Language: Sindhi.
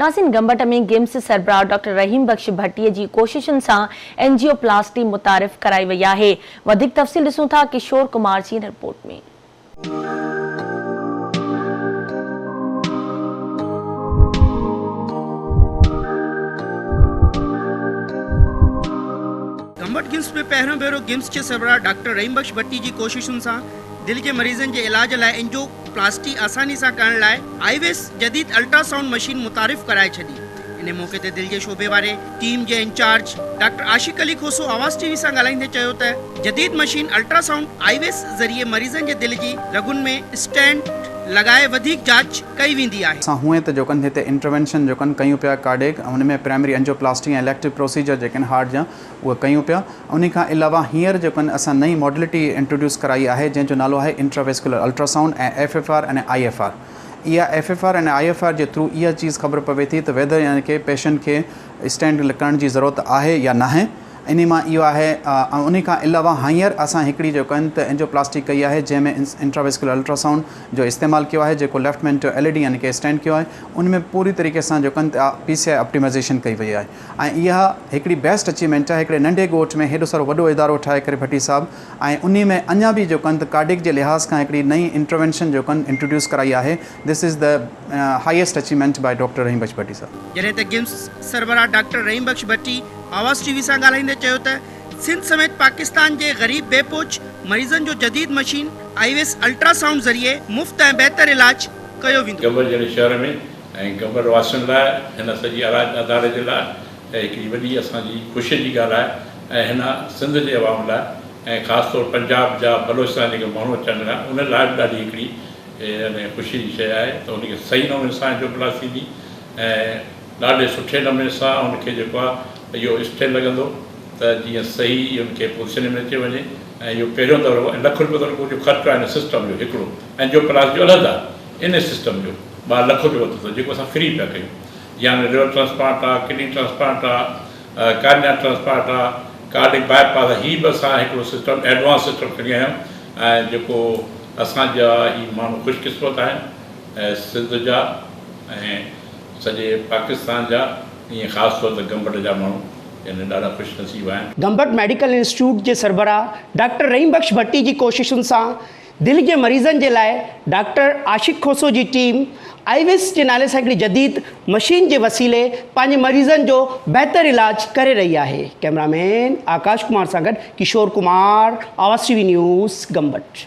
ناسين گمبٽ ۾ گيمس سربراهه ڊاڪٽر رحيم بخش ڀٽي جي ڪوششن سان اينجيو پلاسٽي متعارف ڪرائي وئي آهي وڌيڪ تفصيل ڏسون ٿا ڪشور ڪمار جي هن رپورٽ ۾. گمبٽ گيمس ۾ پهريون ڀيرو گيمس جي سربراهه ڊاڪٽر رحيم بخش ڀٽي جي ڪوششن سان دل جي مريضن جي علاج لاء اينجيو پلاسٽي آساني سان ڪرڻ لاء آئي ويس جديد الٽرا سائونڊ مشين متعارف ڪرائي ڇڏي. انهي موقعي تي دل جي شعبي واري ٽيم جي انچارج ڊاڪٽر عاشق علي کوسو آواز ٽي وي سان ڳالهائيندي چيو ته جديد مشين الٽرا سائونڊ آئي ويس ذريعي مريضن جي دل جي رڳن ۾ اسٽينٽ لڳائي وڌيڪ جاچ ڪئي ويندي آهي. اسان هونئن ته جو ڪن هتي انٽروينشن جو ڪن ڪيون پيا ڪارڊيڪ ۽ ان ۾ primary angioplasty ۽ elective procedure جيڪي آهن هارٽ جا اهي ڪيون پيا انهي کان علاوه هينئر جيڪو آهن اسان نئين ماڊلٽي انٽروڊيوس ڪرائي آهي جنهن جو نالو آهي intravascular ultrasound ۽ F F R ۽ I F R اها F F R ۽ I F R جي ٿرو اها چيز خبر پوي ٿي ته ويڌر يعني ڪي پيشنٽ کي اسٽينٽ لڪائڻ جي ضرورت آهي يا ناهي انهي مان اهو آهي ۽ انهي کان علاوه هينئر اسان هڪڙي جيڪو آهن ته اينجيو پلاسٽي ڪئي آهي جنهن ۾ انٽرا ويسڪيولر الٽرا سائونڊ جو استعمال ڪيو آهي جيڪو left main to L A D يعني ڪي اسٽينٽ ڪيو آهي انهي ۾ پوري طريقي سان جيڪو آهن پي سي آئي اپٽيمائيزيشن ڪئي وئي آهي. ۽ اها هڪڙي بيسٽ اچيومينٽ آهي هڪڙي ننڍي ڳوٺ ۾ هيڏو سارو وڏو ادارو ٺاهي ڪري ڀٽي صاحب ۽ انهي ۾ اڃا به جو ڪنڌ ڪارڊيڪ جي لحاظ کان هڪڙي نئين انٽروينشن جو ڪن انٽروڊيوس ڪرائي آهي this is the highest achievement by doctor Rahim Bakhsh Bhatti صاحب. جڏهن ته گيمز سربراهه ڊاڪٽر رحيم بخش ڀٽي آواز ٽي وي سان ڳالهائيندي چيو ته سنڌ سميت پاڪستان جي غريب بي پوچ مريضن جو جديد مشين آئي ويس الٽرا سائونڊ ذريعي مفت ۽ بهتر علاج ڪيو ويندو. جبل جهڙي شهر ۾ ۽ قبر واسين لاء هن سڄي اراده اداري جي لاء هي هڪڙي وڏي اسان جي خوشي جي ڳالهه آهي ۽ هن سنڌ جي عوام لاء ۽ خاص طور پنجاب جا بلوچستان جا جيڪي ماڻهو اچڻ لڳا آهن انهن لاء به ڏاڍي هڪڙي يعني خوشي جي شيء آهي ته ان کي صحيح نموني سان انجوپلاس ٿيندي ۽ ڏاڍي سٺي نموني سان ان کي جيڪو آهي اهو اسٽيل لڳندو ته جيئن صحيح ان کي پوزيشن ۾ اچي وڃي ۽ اهو پهريون دورو ۽ لک روپيو ته ان جو خرچ آهي ان سسٽم جو هڪڙو انجوپلاس جو علحده ان سسٽم جو ٻاهر لکو جو وتو اٿس جيڪو اسان فري پيا ڪيون يعني ليور ٽرانسپلانٽ آ ڪڊني ٽرانسپلانٽ آ ڪارنيا ٽرانسپلانٽ آ ڪارڊڪ باء پاس آ هي به اسان هڪڙو سسٽم ايڊوانس سسٽم کڻي آيا آهيون ۽ جيڪو اسان جا هي ماڻهو خوش قسمت آهن سنڌ جا ۽ سڄي پاڪستان جا ائين خاص طور ته گمبٽ جا ماڻهو يعني ڏاڍا خوش نصيب آهن. گمبٽ ميڊيڪل انسٽيٽيوٽ جي سربراهه ڊاڪٽر رحيم بخش ڀٽي جي ڪوششن سان دل جي مريضن جي لاء ڊاڪٽر عاشق کوسو جي ٽيم آئي ويس جي نالي سان هڪڙي جديد مشين جي وسيلي پنهنجي مريضن جو بهتر علاج ڪري رهي آهي ڪئميرا مين آڪاش ڪمار سان گڏ ڪشور ڪمار آواز ٽي وي نيوز گمبٽ.